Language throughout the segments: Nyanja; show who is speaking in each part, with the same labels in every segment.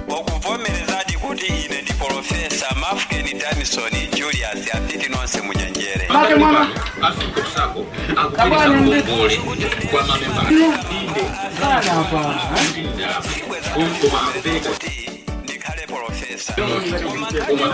Speaker 1: wakuvomerezadi kuti ine ndi polofesa mafkeni danison julius apiti nonse munyenjere Make mwana. afika kusako akupitisa ngongole kwa mamemba inde Sana hapa. koma akupereka kuti ndikhale polofesa koma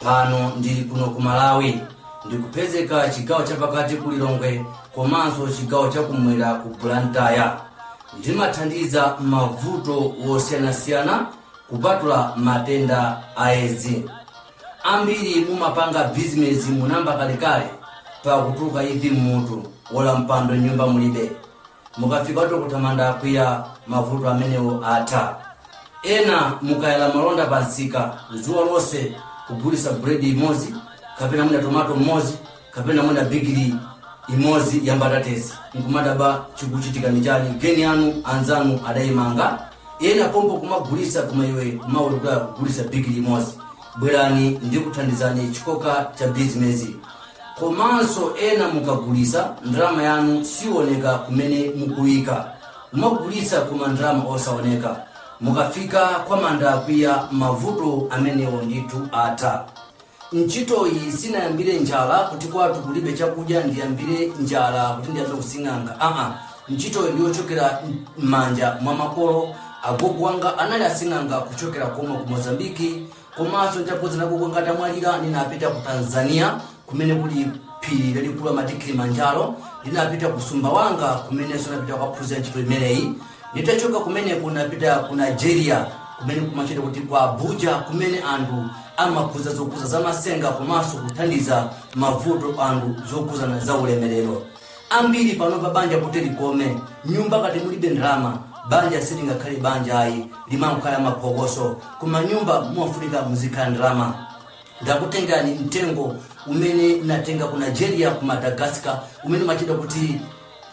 Speaker 1: pano ndili kuno ku malawi ndikupezeka chigawo chapakati ku lilongwe komanso chigawo chakumwera ku blantyre ndimathandiza mavuto wosiyanasiyana kupatula matenda a edzi ambiri mumapanga bizinesi munayamba kalekale pakutuluka ivi mmutu olo mpando m'nyumba mulibe mukafikatu kwa a manda akwiya mavuto amenewo atha ena mukayala malonda pa msika dzuwa lonse kugulisa buledi imodzi kapena mwina tomato mmodzi kapena mwina bigiri imodzi ya mbatatesi nkumadabwa chikuchitika n'chani geni yanu anzanu adayimanga ena pompo kumagulisa koma iwe kumawulukira kugulisa bigiri imodzi bwerani ndikuthandizeni chikoka cha bizinesi komanso ena mukagulisa ndalama yanu siyioneka kumene mukuyika kumagulisa koma ndalama osawoneka mukafika kwa manda akwiya mavuto amenewo ndithu atha ntchitoyi sinayambire njala kuti kwatu kulibe chakudya ndiyambire njala kuti ndiyambe kusing'anga aa ntchitoyi ndi yochokera m'manja mwa makolo agogo wanga anali asing'anga kuchokera komwe ku mozambiki komanso nditapoza agogo wanga atamwalira ndinapita ku tanzania kumene kuli phiri lalikulu amati kilimanjaro ndinapita ku sumbawanga kumenenso ndinapita kukaphunzira ntchito imeneyi nditachoka kumeneko ndinapita ku nigeria kumene kumatchedwa kuti ku abuja kumene anthu amaphunzira zokhudza zamasenga komanso kuthandiza mavuto anthu zokhudzana za ulemerero Ambiri panopa banja kuti likome, m'nyumba ngati mulibe ndalama, banja silingakhale banja ayi, limangokhala maphokoso. Koma m'nyumba mumafunika muzikhala ndalama. Ndakutengerani mtengo umene natenga ku Nigeria, ku Madagascar, umene umatchedwa kuti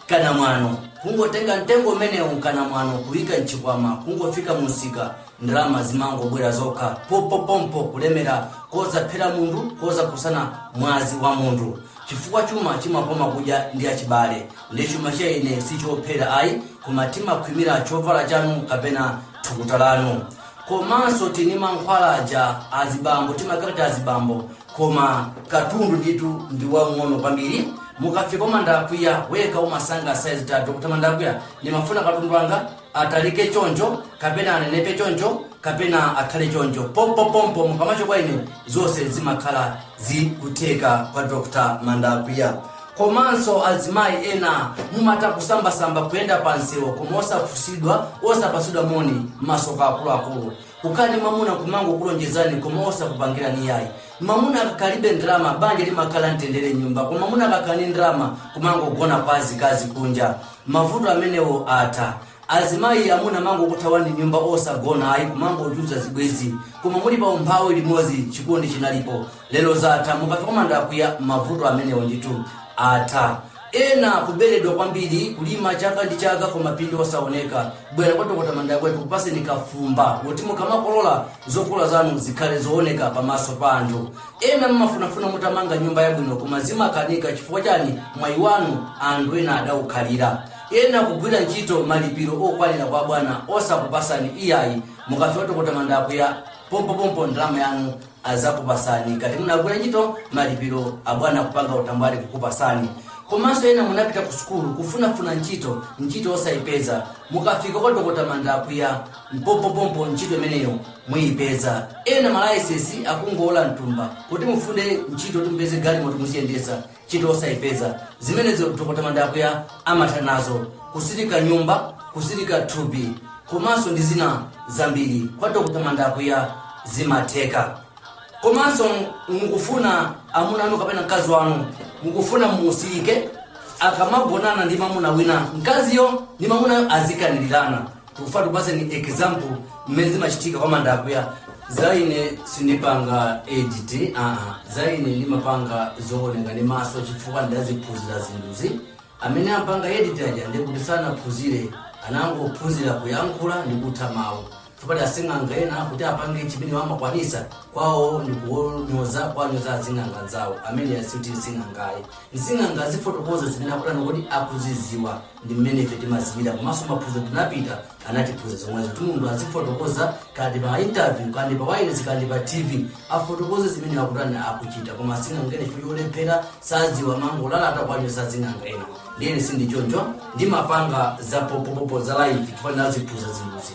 Speaker 1: kanamwano. Kungotenga mtengo umenewu wa kanamwano, kuyika mchikwama, kungofika mumsika, ndalama zimangobwera zokha, pompopompo, kulemera kosaphera munthu, kosakhudzana mwazi wa munthu. chifukwa chuma chimakoma kudya ndi achibale ndi chuma cha ine si chophera ayi koma timakhwimira chovala chanu kapena thukuta lanu komanso tili ndi mankhwala aja azibambo timakhaladi azibambo koma katundu ndithu ndi wang'ono kwambiri mukafika kwa mandakwiya wekha umasankha saizi dotolo mandakwiya ndimafuna katundu wanga atalike choncho kapena anenepe choncho kapena akhale choncho pompopompo pamacho kwa ine zonse zimakhala zikutheka kwa dr mandakuya komanso azimayi ena mumata kusambasamba kuyenda pa msewu koma osafunsidwa osapatsidwa moni mmaso mwa akuluakulu kukhala ndi mamuna kumangokulonjezani koma osakupangirani yayi mamuna akakalibe ndalama banja limakhala mtendere mnyumba koma mamuna akakhala ndi ndalama kumangogona kwa azikazi kunja Mavuto amenewo atha. Azimayi amuna amangokuthawani mnyumba osagona ayi kumangochulutsa zibwezi koma muli pa umphawi limodzi chikondi chinalipo lero zatha mukafika kwa Mandakuya mavuto amenewo ndithu atha. Ena kubeledwa kwambiri kulima chaka ndi chaka koma phindu osaoneka. Bwera kwa Dokota Mandakuya akupaseni kafumba woti mukamakolola zokolola zanu zikhale zooneka pamaso pa anthu. ena mmafunafuna mutamanga nyumba yabwino koma zimakanika chifukwa chani mwayi wanu anthu ena adawukhalira ena kugwira ntchito malipiro okwanira kwa bwana osakupasani iyayi mukafika kwa dokota mandakuya pompopompo ndalama yanu azakupasani ngati munagwira ntchito malipiro abwana kupanga utambwali kukupasani komanso ena munapita ku sukulu kufunafuna ntchito ntchito osayipeza mukafika kwa dokota mandakuya pompopompo ntchito imeneyo muyipeza ena malaisesi akungowola mthumba koma mufuna ntchito kuti mupeze galimoto muziyendesa ntchito osayipeza zimenezo dr mandakuya amatha nazo kutsirika nyumba kutsirika thupi komanso ndi zina zambiri kwa dr mandakuya zimatheka komanso mukufuna amuna anu kapena mkazi wanu mukufuna musiyike akamagonana ndi mamuna wina mkaziyo ndi mamunayo azikanirirana tikufuna tikupatseni example mmene zimachitika kwa mandakuya za ine sindipanga edit aa za ine ndimapanga zooneka ndi maso chifukwa ndaziphunzira zinthuzi amene amapanga edit aja ndi kuti sanaphunzire anangophunzira kuyankhula ndi kutha mawu chifukwa asing'anga ena kuti apange chimene amakwanisa kwawo ndi kuwanyoza kuwanyoza asing'anga nzawo amene sikuti nsing'anga ayi sing'anga azifotokoza zimene akudana kuti akuziziwa ndi mmene ife timaziwira komanso maphunziro tinapita anatiphunza zomwezo kuti munthu azifotokoza kaya ndi pa interview kaya ndi pa wireless kaya ndi pa tv afotokoze zimene akutani akuchita koma sing'anga wina chifukwa cholephera saziwa amangolalata kuwachosa asing'anga ena ndiye ine sindichoncho ndimapanga za pompopompo za live chifukwa ndinaziphunzira zinthuzi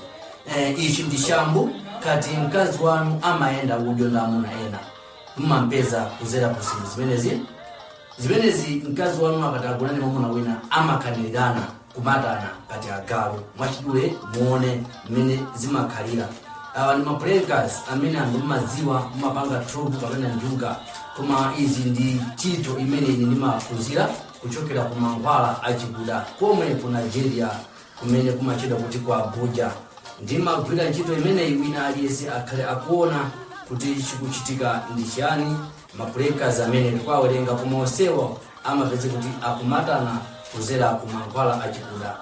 Speaker 1: eh, ichi ndi shambu ngati mkazi wanu amayenda udyo ndi amuna ena mumampeza kuzera ku zinthu zimenezi zimenezi mkazi wanu akatagona ndi mwamuna wina amakanirirana kumatana ngati agalu mwachidule muone mmene zimakhalira awa ndi maplankas amene anthu mmadziwa mmapanga tropu kapena njuga koma izi ndi ntchito imene ine ndimaphunzira kuchokera ku mankhwala achikuda komwe ku nigeria kumene kumatchedwa kuti ku abuja ndimagwira ntchito imeneyi wina aliyense akhale akuona kuti chikuchitika ndi chiyani mapule a kazi amene ndikuwawerenga koma onsewo amapeze kuti akumatana kudzera ku mankhwala achikuda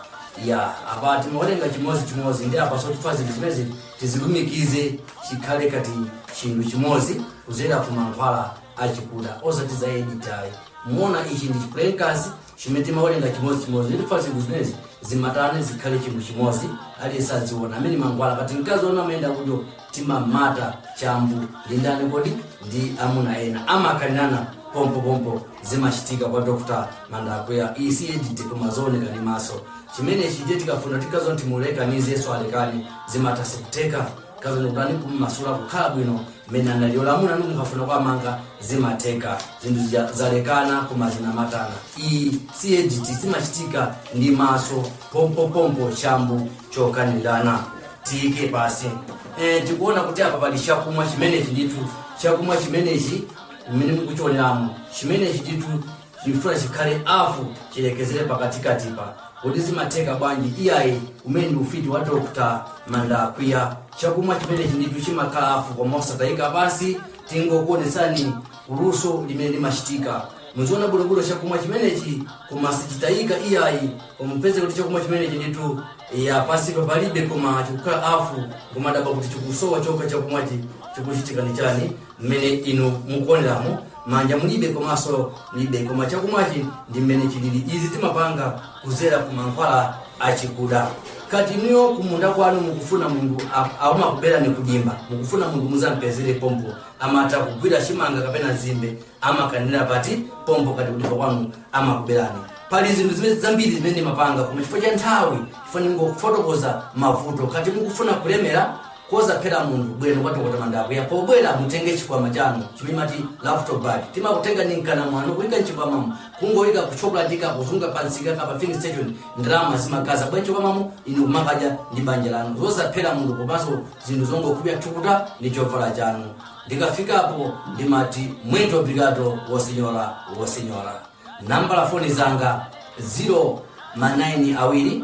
Speaker 1: ya apa timawerenga chimodzi chimodzi ndi apa sotifa zinthu zimenezi tizilumikize chikhale ngati chinthu chimodzi kudzera ku mankhwala achikuda osati za edit ayi muona ichi ndi chipulekazi Chimene timawerenga chimodzimodzi ndi fasi kuzinezi zimatane zikhale chinthu chimodzi aliyense adziona amene mankhwala ngati mkazi wanu amayenda kunjo timamata chambu ndi ndani kuti ndi amuna ena amakanirana pompopompo zimachitika kwa dr mandakweya iyi si edit koma zooneka ndi maso chimenechi ndiye tikafuna ndi kuzilekanitsa kuti alekane zimatha zikutheka Kazemukani kumumasula kukhala bwino mmene analili olo amuna anu mukafuna kuwamanga zimatheka zinthu zija zalekana koma zinamatana iyi si edit zimachitika ndi maso pompopompo chambu chokanirana tiyike pansi e, tikuona kuti apa pali chakumwa chimenechi ndithu chakumwa chimenechi mmene mukuchioneramu chimenechi ndithu Tikufuna chikhale afu chilekezere pakatikatipa kodi zimatheka bwanji iyayi umenewu ndi ufiti wa Dr mandakweya chakumwa chimenechi ndithu chimakhala afu koma osatayika pansi tingokuonetsani luso limene limachitika muzionera bwinobwino chakumwa chimenechi koma sichitayika iyayi koma mupeze kuti chakumwa chimenechi ndithu ya pansipa palibe koma chikukhala afu kumadaba kuti chikusowa chokha chakumwachi chikuchitika ndi chani mmene inu mukuoneramo manja mulibe komanso mulibe koma chakumwachi ndi mmene chilili izi timapanga kudzera ku mankhwala achikuda ngati inuyo kumunda kwanu mukufuna munthu amakuberani kudimba mukufuna munthu mudzampezere pompo amatha kugwira chimanga kapena nzimbe amakanira pompo pompo ngati kudimba kwanu amakuberani pali zinthu zimene zambiri zimene ndimapanga koma chifukwa cha nthawi chifukwa ndingofotokoza mavuto ngati mukufuna kulemera kosaphera munthu bwerani kwa dokota mandapo pobwera mutenge chikwama chanu chimene mumati laptop bag timakutengani mkana mwanu kuyika mchikwamamo kungoyika ku Shoprite kukazunga pamsika kapena filling station ndalama zimadzaza bwa mchikwamamo inu kumakadya ndi banja lanu zosaphera munthu komanso zinthu zongopukuta thukuta ndi chovala chanu ndikafikapo ndimati muito obrigado wosinyora wosinyora nambala za foni zanga 0 manayini awiri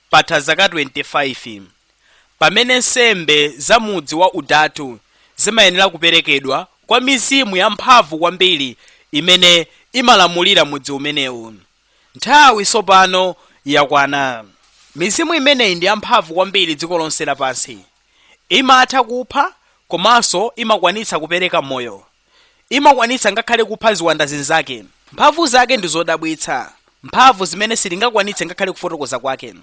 Speaker 1: Patha zaka 25 pamene nsembe za mudzi wa Utatu zimayenera kuperekedwa kwa mizimu yamphamvu kwambiri imene imalamulira mudzi umenewu. Nthawi tsopano yakwana. Mizimu imeneyi ndi yamphamvu kwambiri dziko lonse lapansi. Imatha kupha komanso imakwanitsa kupereka moyo. Imakwanitsa ngakhale kupha ziwanda zinzake. Mphamvu zake ndi zodabwitsa, mphamvu zimene sitingakwanitse ngakhale kufotokoza kwake.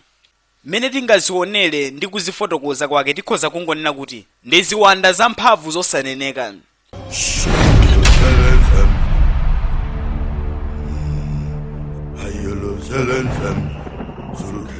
Speaker 1: Mmene tingazionere ndi kuzifotokoza kwake tikhoza kungonena kuti ndi ziwanda zamphamvu zosaneneka.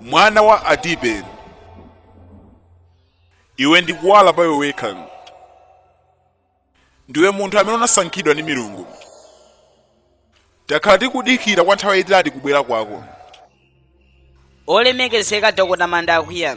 Speaker 1: mwana wa adibe iwe ndi kuwala pa iwe wekha ndiwe munthu amene unasankhidwa ndi milungu takhala tikudikira kwa nthawi yayitali kubwera kwako olemekezeka dokota manda akwiya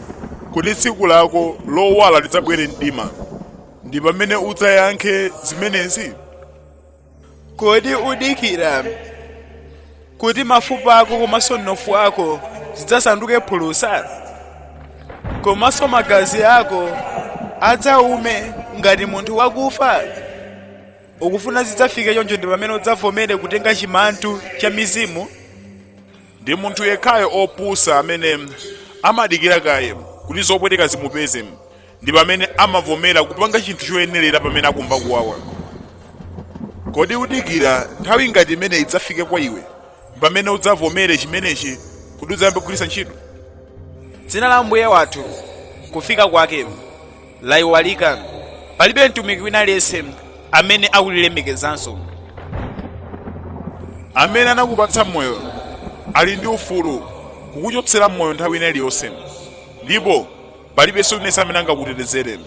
Speaker 1: kodi tsiku lako lowala lidzabwere mdima ndi pamene udzayankhe zimenezi kodi udikira kuti mafupa ako komanso mnofu wako zidzasanduke phulusa komanso magazi ako adzaume ngati munthu wakufa ukufuna zidzafike choncho ndi pamene udzavomere kutenga chimantu cha mizimu ndi munthu yekhayo opusa amene amadikira kaye kuti zopweteka zimupeze ndi pamene amavomera kupanga chinthu choyenerera pamene akumva kuwawa kodi udikira nthawi ngati imene idzafike kwa iwe pamene udzavomere chimenechi kuti udzayambe kugwiritsa ntchito dzina la mbuye wathu kufika kwake laiwalika palibe mtumiki wina aliyense amene akulilemekezanso amene anakupatsa moyo ali ndi ufulu kukuchotsera moyo nthawi ina iliyonse ndipo palibenso aliyense amene angakutetezere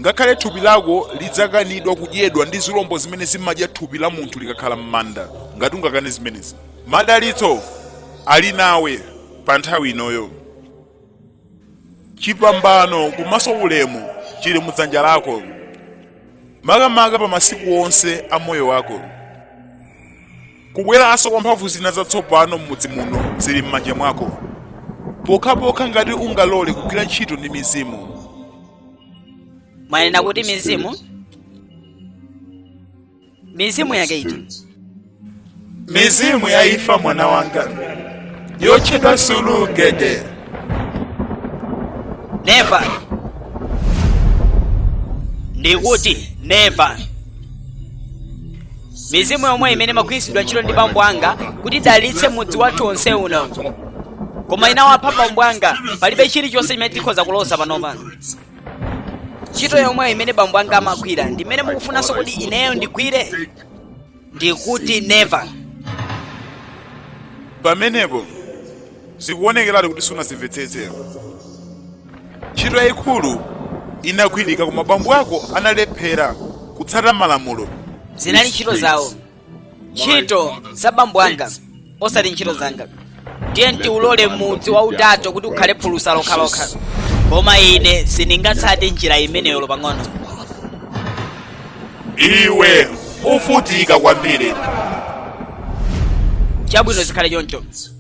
Speaker 1: ngakhale thupi lako lidzakanidwa kudyedwa ndi zilombo zimene zimadya thupi la munthu likakhala m'manda ngati ungakane zimenezi madalitso ali nawe pa nthawi inoyo chipambano komanso ulemu chili mu dzanja lako makamaka pa masiku onse a moyo wako kubweranso kwa mphamvu zina zatsopano m'mudzi muno zili m'manja mwako pokhapokha ngati ungalole kugwira ntchito ndi mizimu mwanena kuti mizimu mizimu yake iti mizimu ya ifa mwana wanga yotchedwa sulugede never ndikuti never mizimu yomwe imene imagwiritsidwa ntchito ndi bambo anga kuti idalitse mudzi wathu onse uno koma inawapha bambo anga palibe chilichonse chimene tikhoza kuloza panopa ntchito yomweyo imene bambo anga amagwira ndi imene mukufunanso kuti ineyo ndigwire ndikuti never, pamenepo zikuonekeratu kuti sunazimvetsetsera ntchito yayikulu inagwirika koma bambo ako analephera kutsata malamulo zinali ntchito zawo ntchito za bambo anga osati ntchito zanga ndiye ndiulole mudzi wa utato kuti ukhale phulusa lokhalokha koma ine sindingatsate njira imeneyo pang'ono iwe uvutika kwambiri chabwino zikhale choncho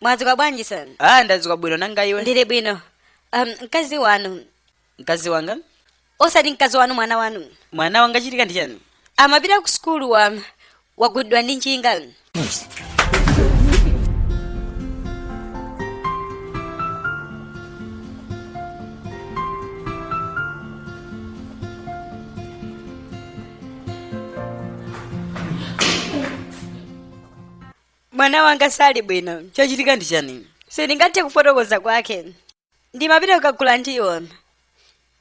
Speaker 1: mwadzuka bwanji son ah ndadzuka bwino nanga iwe ndili bwino um, mkazi wanu mkazi wanga osati mkazi wanu mwana wanu mwana wanga chachitika ndi chani amapita ku sukulu wa wagundidwa ndi njinga mwana wanga sali bwino chachitika ndi chani sindingathe kufotokoza kwake ndimapita kukagula ndiwo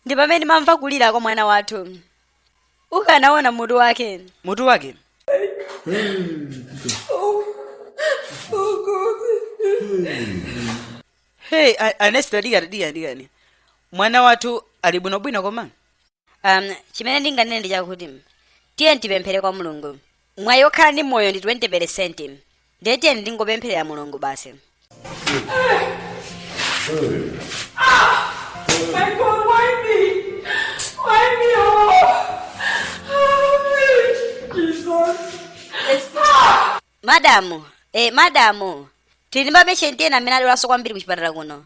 Speaker 1: ndi pamene ndimamva kulira kwa mwana wathu ukanaona mutu wake mutu wake hey a- anesta dikani dikani dikani mwana wathu ali bwinobwino koma um, chimene ndinganene ndi chakuti tiye tipemphere kwa mulungu mwayi okhala ndi moyo ndi 20 peresenti ndiye tiyeni tingopemphera kwa mulungu basi My God, why me? Why me? Oh, Jesus. madamu eh, madamu tili ndi mapeshenti ena amene adwalanso kwambiri ku chipatala kuno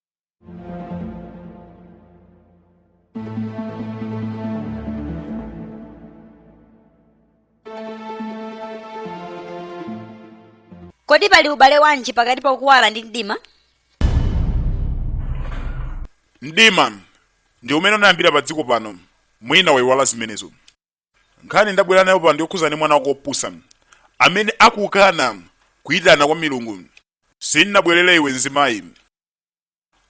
Speaker 1: kodi pali ubale wanji pakati pa kuwala ndi mdima mdima ndi umene unayambira pa dziko pano mwina waiwala zimenezo nkhani ndabwera nayo pano yokhuza ndi mwana wako opusa amene akukana kuyitana kwa milungu sinnabwerere iwe mzimayi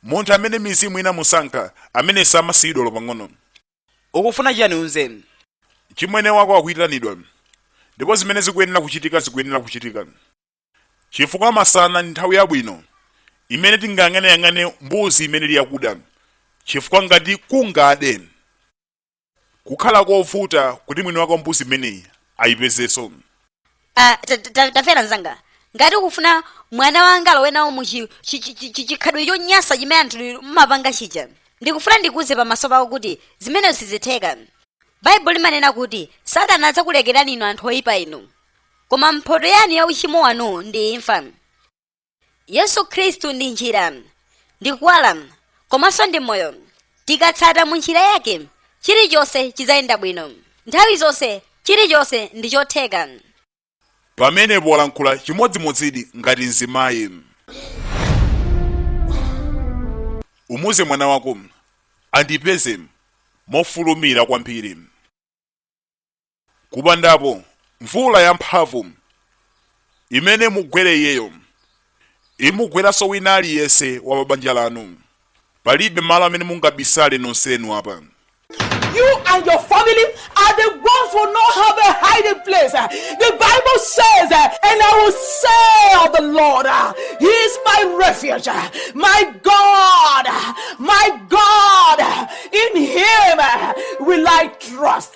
Speaker 1: munthu amene mizimu inamusankha amene samasiyidwa lopang'ono ukufuna chiyani umuuze chimwene wako akuyitanidwa ndipo zimene zikuyenera kuchitika zikuyenera kuchitika chifukwa masana ndi nthawi yabwino imene tingayang'aneyang'ane mbuzi imene ili yakuda chifukwa ngati kungade kukhala kovuta kuti mwini wake wa mbuzi imeneyi ayipezenso Ah, ta- ta- ta- tamvera mzanga ngati ukufuna mwana wanga alowe nawo mu chi- chi- chi- chi- chi- chikhadwe chonyansa chimene anthu mmapanga chija ndikufuna ndikuuze pamaso pako kuti zimenezo sizitheka baibulo limanena kuti satana adzakulekerani inu anthu oyipa inu koma mphoto yanu ya uchimo wanu ndi imfa yesu khristu ndi njira ndi kuwala komanso ndi moyo tikatsata mu njira yake chilichonse chidzayenda bwino nthawi zonse chilichonse ndi chotheka pamenepo walankhula chimodzimodzidi ngati mzimayi umuuze mwana wako andipeze mofulumira kwambiri kupanda apo mvula yamphamvu imene imugwere iyeyo imugweranso wina aliyense wa pabanja lanu palibe malo amene mungabisale nonsenu apa You and your family are the ones who not have a hiding place. The Bible says, and I will say of the Lord, He is my refuge, my fortress, my God. In Him will I trust.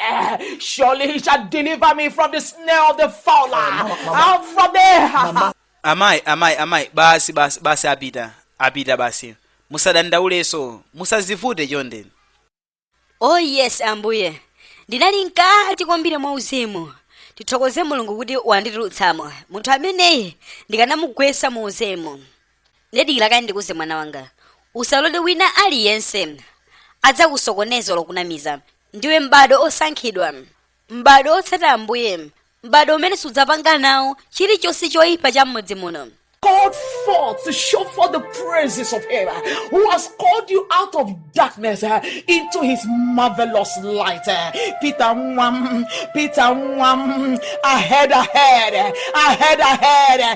Speaker 1: Surely he shall deliver me from the snare of the fowler and from the. amayi amayi amayi basi basi basi apita apita basi musadandaulenso musazivute chonde oh yes ambuye ndinali mkati kwambiri mwa uzimu tithokoze mulungu kuti wanditulutsamo munthu ameneyi ndikanamugwetsa mu uzimu nde dikira kaye ndikuuze mwana wanga usalole wina aliyense adzakusokoneze olo kukunamiza ndiwe m'bado osankhidwa m'bado otsata ambuye m'bado umene sudzapanga nawo chilichonse choyipa cha m'mudzi muno called forth to show forth the praises of Him uh, who has called you out of darkness uh, into His marvelous light. uh. Peter Mwam, Peter Mwam, ahead, ahead, uh, ahead, ahead. uh,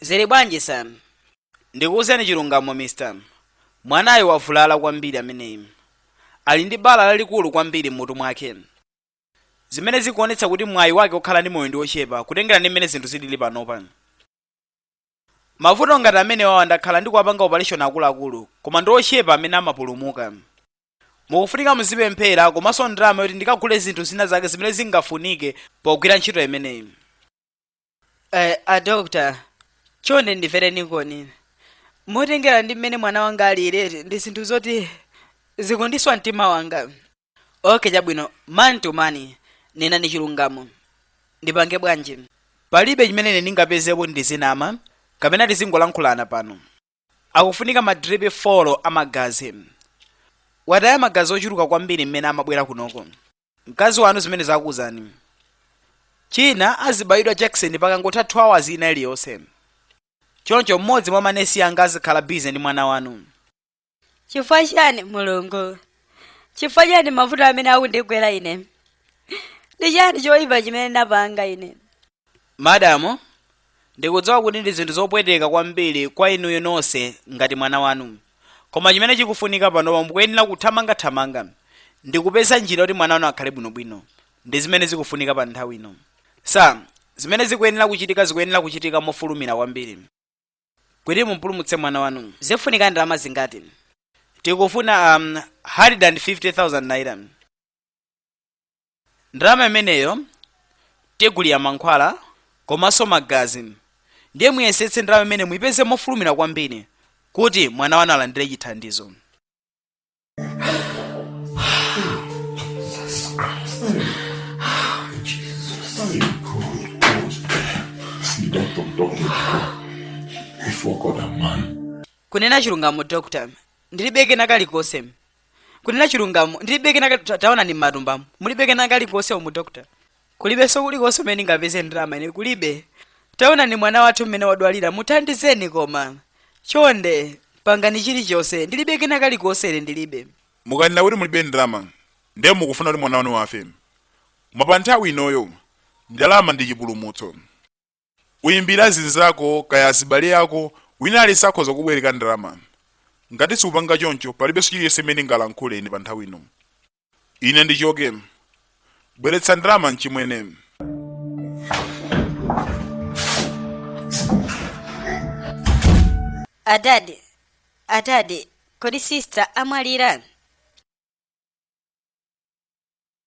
Speaker 1: zili bwanji sam ndikuwuzeni chilungamo mr mwanayu wavulala kwambiri ameneyi ali ndi bala lalikulu kwambiri m'mutu mwake zimene zikuonetsa kuti mwayi wake okhala ndi moyo ndi ochepa kutengera ndi mmene zinthu zilili panopa Mavuto ngati amenewawa ndakhala ndikuwapanga opaleshoni akuluakulu koma ndi ochepa amene amapulumuka. Mukufunika muzipemphera komanso ndalama yoti ndikagule zinthu zina zake zimene zingafunike pogwira ntchito imeneyi. Eh, a doctor, chonde ndimvereni koni. Motengera ndi mmene mwana wanga alili, ndi zinthu zoti zikundiswa mtima wanga. okay chabwino man to man nenani chilungamo ndipange bwanji palibe chimene ine ndingapezepo ndizinama kapena tizingolankhulana pano akufunika madripi folo a magazi wataya magazi ochuluka kwambiri mmene amabwera kunoko mkazi wanu zimene ndakuwuzani china azibayidwa jakisoni pakangotha 2 hours ina iliyonse choncho mmodzi mwa manesi anga azikhala bize ndi mwana wanu chifukwa chiyani mulungu chifukwa chiyani mavuto amene akundigwera ine ndi chiyani choyipa chimene ndapanga ine madamu ndikudziwa kuti ndi zinthu zopweteka kwambiri kwa inuyo ndinso ngati mwana wanu koma chimene chikufunika panopa mukuyenera kuthamangathamanga ndi kupeza njira yoti mwana wanu akhale bwinobwino ndi zimene zikufunika pa nthawi ino so zimene zikuyenera kuchitika zikuyenera kuchitika mofulumira kwambiri kuti mumpulumutse mwana wanu zikufunika ndalama zingati tikufuna um, 150,000 naira ndalama imeneyo tigulira mankhwala komanso magazi ndiye muyesetse ndalama imeneyi muyipeze mofulumira kwambiri kuti mwana wanu alandire chithandizo kunena chilungamo dr ndilibe kena kalikonse kunena chilungamo ndilibe kena kali- ta- taonani m'matumbamu mulibe kena kalikonse umu dr kulibenso kulikonse kumene ndingapeze ndalama ine kulibe taonani mwana wathu mmene wadwalira muthandizeni koma chonde pangani chilichonse ndilibe kena kalikonse ine ndilibe mukanena kuti mulibe ndalama ndiye mukufuna kuti mwana wanu afe bwana pa nthawi inoyo ndalama ndi chipulumutso uyimbire azinzako kaya azibale ako wina aliyense akhoza kukubwereka ndalama ngati siupanga choncho palibenso chilichonse chimene ningalankhule ine pa nthawi ino ine ndichoke bweretsa ndalama mchimwene adadi adadi kodi sista amwalira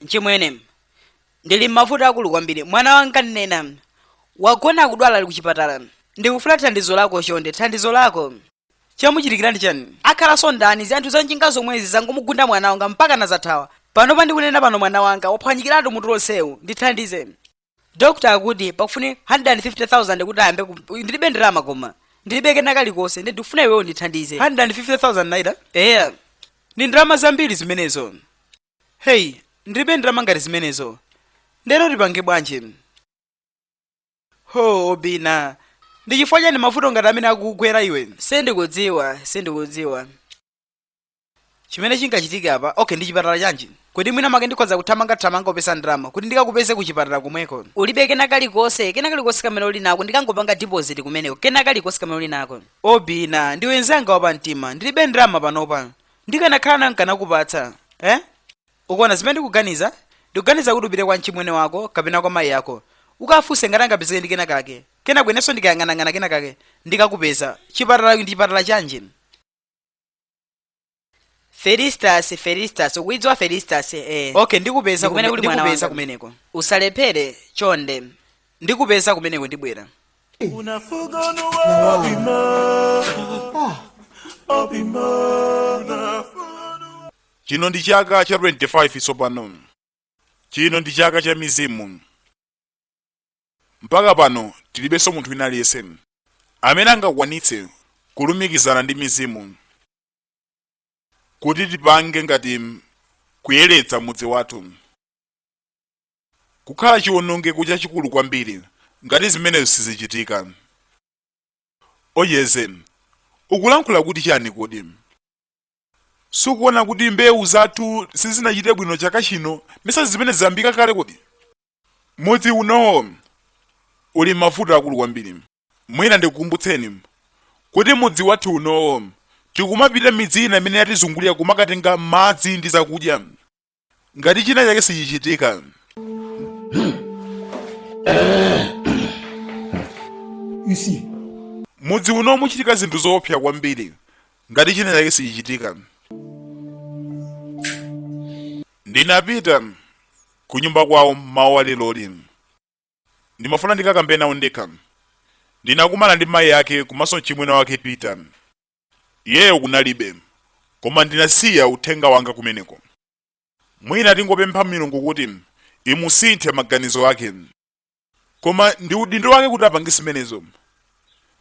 Speaker 1: mchimwene ndili m'mavuto akulu kwambiri mwana wanga Nnenna wagona akudwala ali kuchipatala ndikufuna thandizo lako chonde thandizo lako chamuchitikira ndi chani akhalanso ndani si anthu a njinga zomwezi zangomugunda mwana wanga mpaka nazathawa panopa ndikunena pano mwana wanga waphwanyikiratu mutu lonsewu ndithandize dokta akuti pakufunika 150,000 kuti ayambe ku- ndilibe ndalama koma ndilibe kena kalikonse ndi ndikufuna iweyo undithandize 150,000 naira eya ndi ndalama zambiri zimenezo heyi ndilibe ndalama ngati zimenezo ndeno tipange bwanji ho obina ndi chifukwa chani mavuto ngati amene akukugwera iwe sindikudziwa sindikudziwa chimene chingachitike apa okay ndi chipatala chanji kodi mwinamwake ndikhoza kuthamanga thamanga kupeza ndalama kuti ndikakupeze ku chipatala komweko ulibe kena kalikonse kena kalikonse kamene uli nako ndikangopanga deposit kumeneko kena kalikonse kamene uli nako obina ndiwe nzanga wapa mtima ndilibe ndalama panopa ndikanakhala na nkanakupatsa eh? ukuona zimene ndikuganiza ndikuganiza kuti upite kwa mchimwene wako kapena kwa mayi yako ukafunse ngati angapezeke ndi kenakake kenako inenso ndikayang'anang'ana kenakake ndikakupeza kuchipatala ndi chipatala chanji felistas felistas ukuidziwa felistas eh. okay ndikupeza Ndi kumene kume- kuli mwana ndikupeza wanga. kumeneko usalephere chonde ndikupeza kumeneko ndibwera chino ndi chaka cha 25 tsopano chino ndi chaka cha mizimu mpaka pano tilibenso munthu wina aliyense amene angakwanitse kulumikizana ndi mizimu kuti tipange ngakhale kuyeretsa mudzi wathu kukhala chiwonongeko chachikulu kwambiri ngati zimenezo sizichitika. Ojeze, ukulankhula kuti chani kodi? Sukuona kuti mbewu zathu sizinachite bwino chaka chino, misanzi zimenezi zayambika kale kodi? Mudzi unowo uli m'mavuto akulu kwambiri. Mwina ndikukumbutseni kuti mudzi wathu unowo tikumapita midzi ina imene yatizungulira kumakatenga madzi ndi zakudya. ngati china chake sichichitika mudzi unowu muchitika zinthu zoopsa kwambiri ngati china chake sichichitika ndinapita ku nyumba kwawo mmawa walero li ndimafuna ndikakambe nawo ndekha ndinakumana ndi mayi ake komanso mchimwene wake peter Iyeyo kunalibe, koma ndinasiya uthenga wanga kumeneko. Mwina tingopempha Milungu kuti imusinthe maganizo ake. Koma ndi udindo wake kuti apange zimenezo.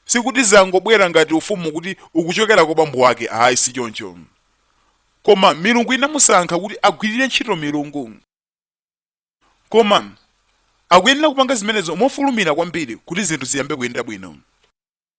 Speaker 1: Sikuti zangobwera ngati ufumu kuti ukuchokera kwa bambo wake, ayi si choncho. Koma Milungu inamusankha kuti agwirire ntchito milungu. Koma akuyenera kupanga zimenezo mofulumira kwambiri kuti zinthu ziyambe kuyenda bwino.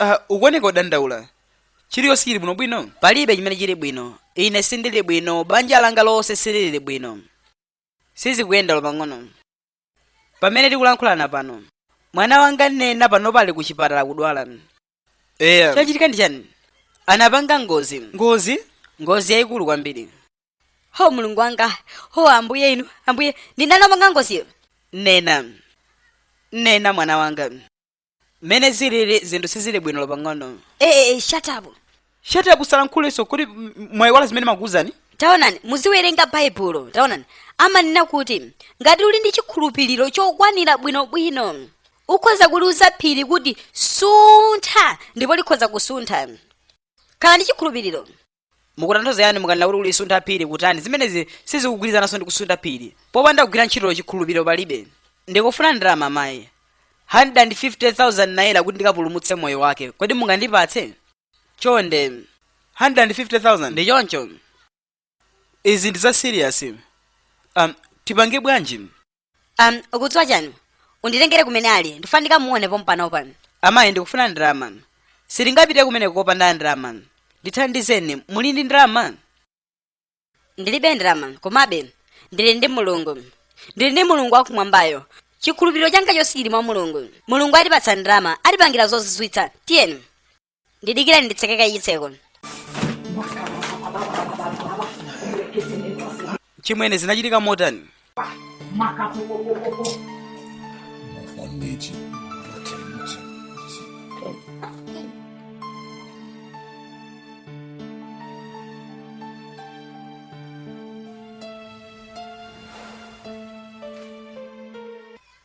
Speaker 1: uh, ukuoneka odandaula chiliyonse chili bwino bwino palibe chimene chili bwino ine sindili bwino banja langa lonse silili bwino sizikuyenda olo pang'ono pamene tikulankhulana pano mwana wanga nena pano pali ku chipatala kudwala eya chachitika ndi chani anapanga ngozi ngozi ngozi yayikulu kwambiri ho mulungu wanga ho ambuye inu ambuye ndani wapanga ngoziyo nena nena mwana wanga mmene zilili zinthu sizili bwino olo pang'ono ee shut up shut up usalankhulenso kodi mwayiwala zimene makuwuzani taonani muziwerenga baibulo taonani amanena kuti ngati uli ndi chikhulupiriro chokwanira bwinobwino ukhoza kuliuza phiri kuti suntha ndipo likhoza kusuntha khala ndi chikhulupiriro mukutanthauza chani mukanena kuti kulisuntha phiri kutani zimenezi sizikugwirizananso ndi kusuntha phiri popanda kugwira ntchito chikhulupiriro palibe ndikufuna ndalama mayi 150,000 naira kuti ndikapulumutse moyo wake kodi mungandipatse chonde 150,000 ndi choncho izi ndi za serious um, tipange bwanji um, ukudziwa chani unditengere kumene ali ndifuna ndikamuone pompano pa amayi ndikufuna ndalama sitingapite kumene kopanda ndalama ndithandizeni muli ndi ndalama ndilibe ndalama komabe ndili ndi mulungu ndili ndi mulungu wakumwambayo chikhulupiriro changa chonse chili mwa mulungu mulungu atipatsa ndalama atipangira zozizwitsa tiyeni ndidikirani nditseke kaye chitseko achimwene zinachitika motani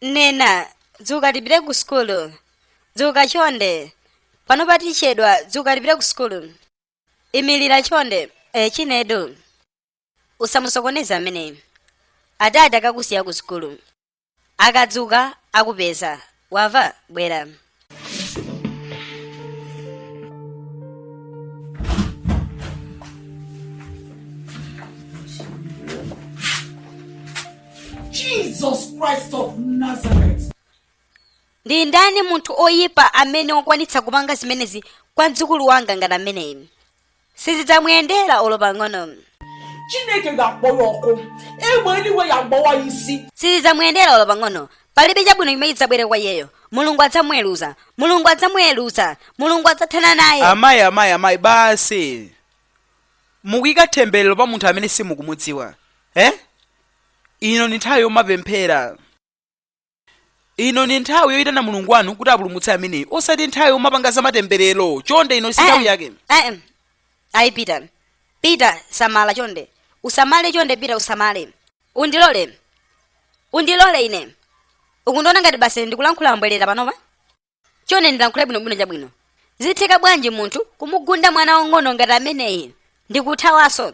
Speaker 1: nena dzuka tipite ku sukulu dzuka chonde pano patichedwa dzuka tipite ku sukulu imirira chonde e chinedu usamusokoneza ameneyi adadi akakusiye ku sukulu akadzuka akupeza wava bwera Jesus Christ of Nazareth. Ndi ndani munthu oyipa amene wakwanitsa kupanga zimenezi kwa mdzukulu wanga ngati ameneyi? Sizidzamuyendera olo pang'ono. Chineke ga-akpọ ya ọkụ. Egbe eluigwe ya agbawa ya isi. Sizidzamuyendera olo pang'ono. Palibe chabwino chimene chidzabwere kwa iyeyo. Mulungu adzamuweruza. Mulungu adzamuweruza. Mulungu adzathana naye. Amayi, amayi, amayi, basi. Mukuyika thembelero pa munthu amene simukumudziwa. Eh? Ino ndi nthawi yomapemphera. ino ni nthawi yoyitana mulungu wanu kuti apulumutse ameneyi osati nthawi yomapanga za matemberero chonde ino si nthawi yake Eh, ayi pita pita samala chonde usamale chonde pita usamale undilole undilole ine ukundiona ngati basi ndikulankhula mbwerera panopa chonde ndilankhule bwinobwino chabwino zitheka bwanji munthu kumugunda mwana wang'ono ngati ameneyi ndi kuthawanso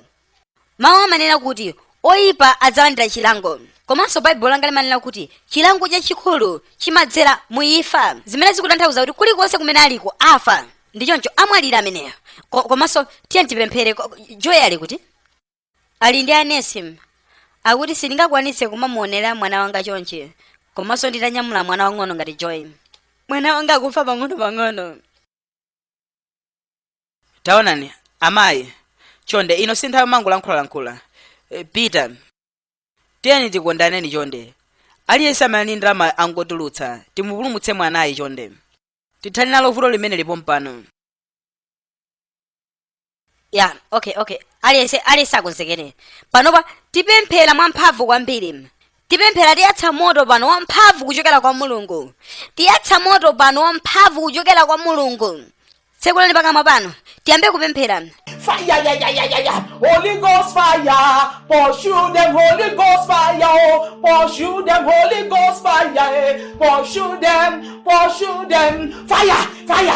Speaker 1: mawu amanena kuti oyipa adzalandira chilango komanso baibulo langa limanena kuti chilango chachikulu chimadzera mu imfa zimene zikutanthauza kuti kulikonse kumene aliko afa ndi choncho amwalire ameneyo Ko- komanso tiye tipemphere ko- joy ali kuti ali ndi anesim akuti sindingakwanitse kumamuonera mwana wanga chonchi komanso nditanyamula mwana wang'ono ngati joy mwana wanga akufa pang'ono-pang'ono taonani amayi chonde ino si nthawi yomangolankhulalankhula Eh, peter tiyeni tikondane chonde aliyense amene ali ndi ndalama angotulutsa timupulumutse mwanayi chonde tithane nalo vuto limene lili pompano ya okay okay aliyense aliyense akonzekere panopa tipemphera mwamphamvu kwambiri tipemphera tiyatsa moto pano wamphamvu kuchokera kwa mulungu tiyatsa moto pano wamphamvu kuchokera kwa mulungu tsekulani pakamwa panu tiyambe kupemphera Fire, yeah, yeah, yeah, yeah, yeah. Holy Ghost fire, pursue them, Holy Ghost fire, oh. pursue them, Holy Ghost fire, eh. pursue them, pursue them. Fire, fire,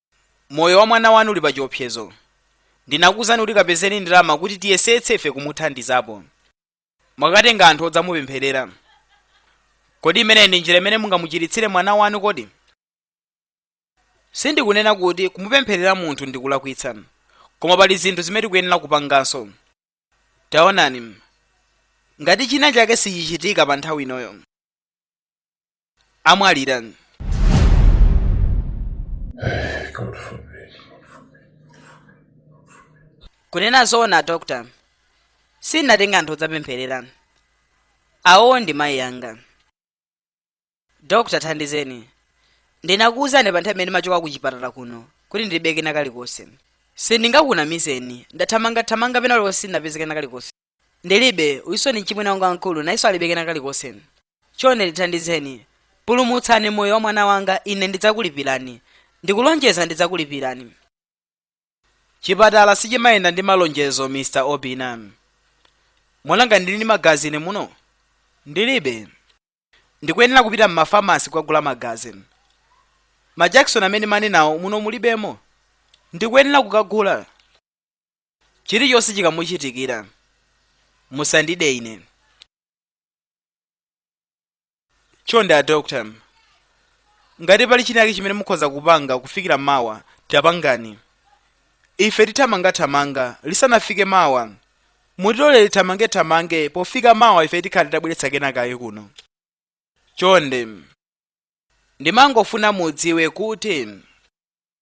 Speaker 1: Moyo wa mwana wanu uli pachiopsezo. Ndinakuuzani kuti kapezeni ndalama kuti tiyesetse ife kumuthandizapo. Mwakatenga anthu odzamupempherera. Kodi imeneyi ndi njira imene mungamuchiritsire mwana wanu kodi? Sindikunena kuti kumupempherera munthu ndi kulakwitsa, koma pali zinthu zimene tikuyenera kupanganso. Taonani, ngati chinachake sichichitika pa nthawi inoyo. amwalira God forbid. kunena zoona dr sindinatenge anthu odzapempherera awo ndi mayi anga dr thandizeni ndinakuwuzani pa nthawi imene ndimachoka ku chipatala kuno kuti ndilibe kena kalikonse sindingakunamizeni ndathamangathamanga pena paliponse sindinapeze kena kalikonse ndilibe uyunso ndi mchimwene wanga wamkulu nayenso alibe kena kalikonse chonde ndithandizeni pulumutsani moyo wa mwana wanga ine ndidzakulipirani ndikulonjeza ndidzakulipirani chipatala sichimayenda ndi malonjezo mr obina mwandiona ndili ndi magazi ine muno ndilibe ndikuyenera kupita m'mafamasi kukagula magazi majakisoni amene manena awo muno mulibemo ndikuyenera kukagula Chirichonse chikamuchitikira, musandide ine. Chonde a doctor, ngati pali chinachake chimene mukhoza kupanga kufikira mawa, tapangani. Ife tithamanga thamanga lisanafike mawa. Mutilole tithamange thamange pofika mawa ife tikhala titabweretsa kenakake kuno. Chonde, ndimangofuna mudziwe kuti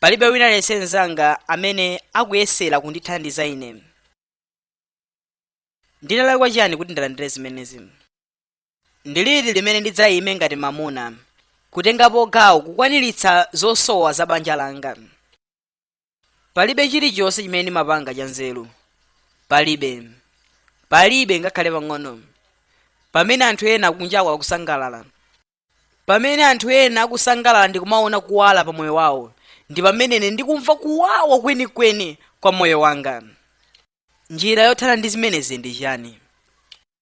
Speaker 1: palibe wina aliyense mnzanga amene akuyesera kundithandiza ine ndinalakwa chiyani kuti ndilandire zimenezi ndi liti limene ndidzaime ngati mamuna kutengapo gawo kukwaniritsa zosowa za banja langa palibe chilichonse chimene ndimapanga chanzeru palibe palibe ngakhale pang'ono pamene anthu ena kunjaku akusangalala pamene anthu ena akusangalala ndi kumaona kuwala pa moyo wawo ndi pamene ine ndikumva kuwawa kwenikweni kwa moyo wanga njira yothana ndi zimenezi ndi chani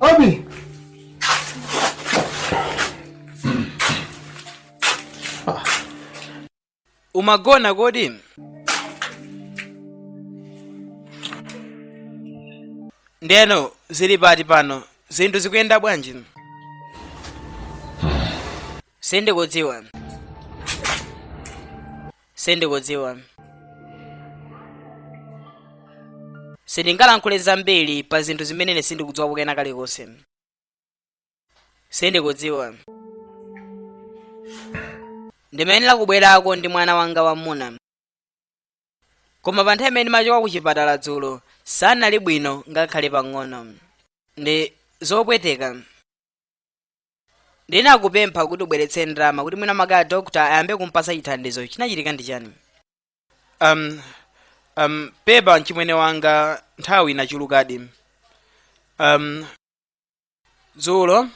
Speaker 1: Obi! Umagona kodi? Ndeno zili pati pano, zinthu zikuyenda bwanji? Sindikudziwa. sindikudziwa sindingalankhule zambiri pa zinthu zimene ine sindikudziwa kukanena kalikonse sindikudziwa ndimayenera kubwerako ndi mwana wanga wamuna koma pa nthawi imene ndimachoka ku chipatala dzulo sanali bwino ngakhale pang'ono ndi zopweteka ndinakupempha kuti ubweretse ndalama kuti mwina mwake a dokta ayambe kumpasa chithandizo chinachitika ndi chani um, um, pepa mchimwene wanga nthawi inachulukadi um, dzulo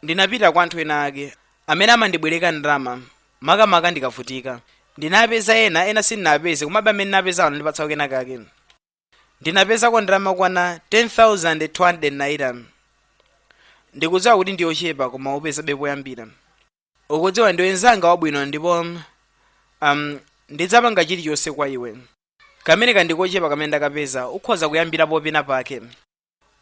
Speaker 1: ndinapita kwa anthu ena ake amene amandibwereka ndalama makamaka ndikavutika ndinapeza ena ena sindinapeze komabe amene ndinapeza anandipatsako kena kake ndinapezako ndalama yokwana 10,200 naira ndikudziwa kuti ndiyochepa koma upezabe poyambira ukudziwa ndiwe nzanga wabwino ndipo um, ndidzapanga chilichonse kwa iwe kamene kandikochepa kamene ndakapeza ukhoza kuyambira penapake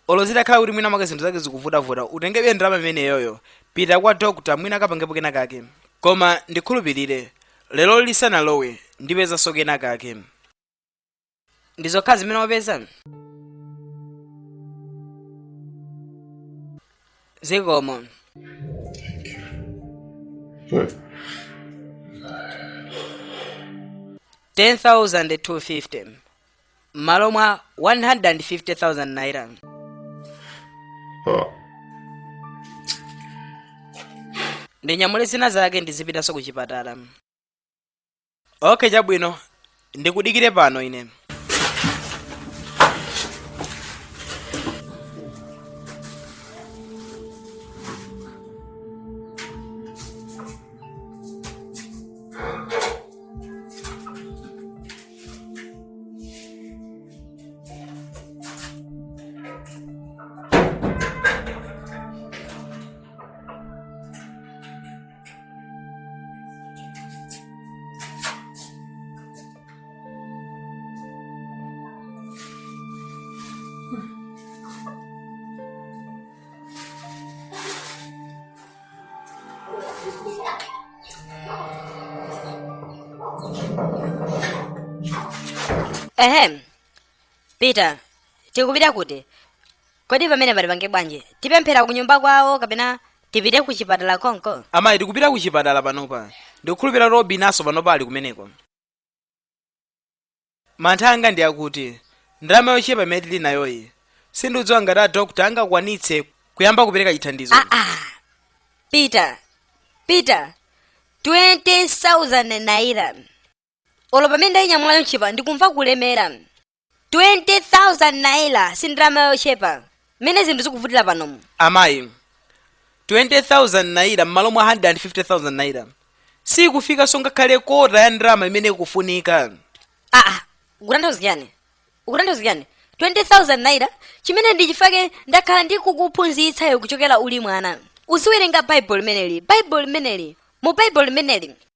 Speaker 1: olo zitakhala kuti mwina mwake zinthu zake zikuvutavuta utengebe ndalama imeneyoyo pita kwa dokta mwina akapangepo kena kake koma ndikhulupirire lero lisanalowe ndipezanso kena kake ndi zokha zimene wapeza zikomo ten thousand two fifty mmalo mwa 150,000 naira ndinyamule zina zake ndizipitanso ku chipatala okay chabwino ndikudikire pano ine Ehem. Peter, tikupita kuti? kodi pamenepa tipange bwanji tipemphera ku nyumba kwawo kapena tipite ku chipatala konko amayi tikupita ku chipatala panopa ndikukhulupira robin naso panopa ali kumeneko mantha anga ndi akuti ndalama yochepa imene tili nayoyi sindikudziwa ngati a dokta angakwanitse kuyamba kupereka chithandizo aa peter peter 20000 naira olo pamene ndayinyamulayo m'chikwama ndikumva kulemera 20,000 naira si ndalama yochepa mmene zinthu zikuvutira panomu amayi 20000 naira m'malo mwa 150000 naira sikufikanso ngakhale kota ya ndalama imene ikufunika aa ukutanthauza chani ukutanthauza chani 20000 naira chimene ndi chifukwa chake ndakhala ndikukuphunzitsa iwe kuchokera uli mwana uziwerenga baibulo limeneli baibulo limeneli mu baibulo limeneli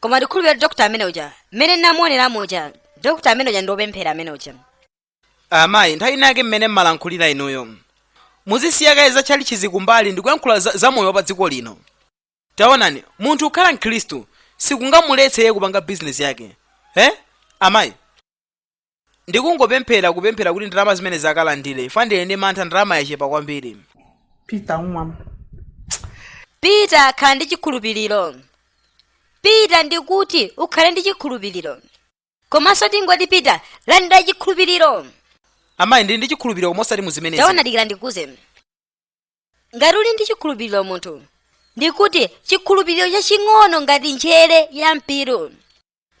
Speaker 1: koma ndikhulupirira dokota amene uja mmene ndinamuoneramo uja dokota amene uja ndi wopemphera amene uja amayi nthawi inayake mmene mmalankhulira inuyo muzisiya kaye za tchalitchizi kumbali ndi kuyankhula za, za moyo wa pa dziko lino taonani munthu kukhala mkhristu sikungamuletse iye kupanga bizinesi yake eh amayi ndikungopemphera kupemphera kuti ndalama zimenezi akalandire chifukwa ndili ndi mantha ndalama yachepa kwambiri peter umam peter khala ndi chikhulupiriro peter ndikuti ukhale ndi chikhulupiriro komanso ndingoti peter landira chikhulupiriro amayi ndili ndi chikhulupiriro koma osati mu zimenezi taona dikira ndikuuze ngati uli ndi chikhulupiriro munthu ndikuti chikhulupiriro chaching'ono ngati njere ya mpiru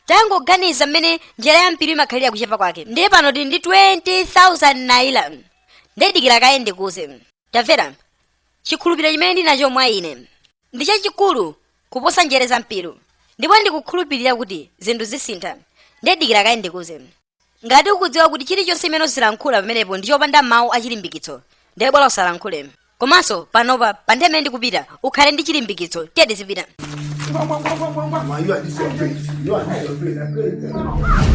Speaker 1: tangoganiza mmene njere ya mpiru imakhalira kuchepa kwake ndiye pano tili ndi 20000 naira ndidikira kaye ndikuze tamvera chikhulupiriro chimene ndili nacho mwa ine ndi chachikulu kuposa njere za mpiru ndipo ndikukhulupirira kuti zinthu zisintha ndidikira kaye ndikuze ngati ukudziwa kuti chilichonse chimene uzilankhula pamenepo ndi chopanda mawu achilimbikitso ndiye bola usalankhule komanso panopa pa nthawi imene ndikupita ukhale ndi chilimbikitso tiye tizipita Mama, you are disciplined. You are disciplined.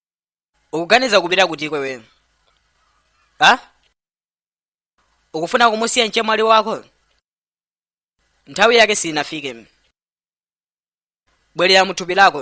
Speaker 1: ukuganiza kupita kutiko iwe ha ukufuna kumusiya mchemwali wako nthawi yake sinafike bwerera muthupi lako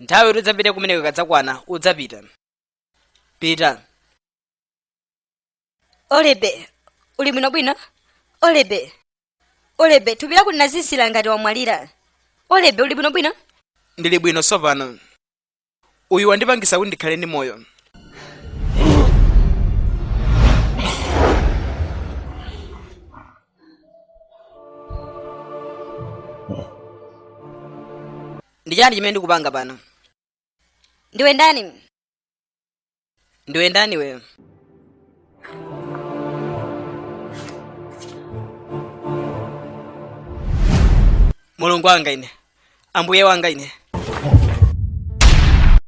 Speaker 1: nthawi yoti udzapite kumeneko ikadzakwana udzapita pita olebe uli bwinobwino olebe olebe thupi lako linazizira ngati wamwalira olebe uli bwinobwino ndili bwino tsopano uyu wandipangisa kuti ndikhale ndi moyo ndi chani chimene ndikupanga pano ndiwe ndani ndiwe ndani iwe mulungu wanga ine ambuye wanga ine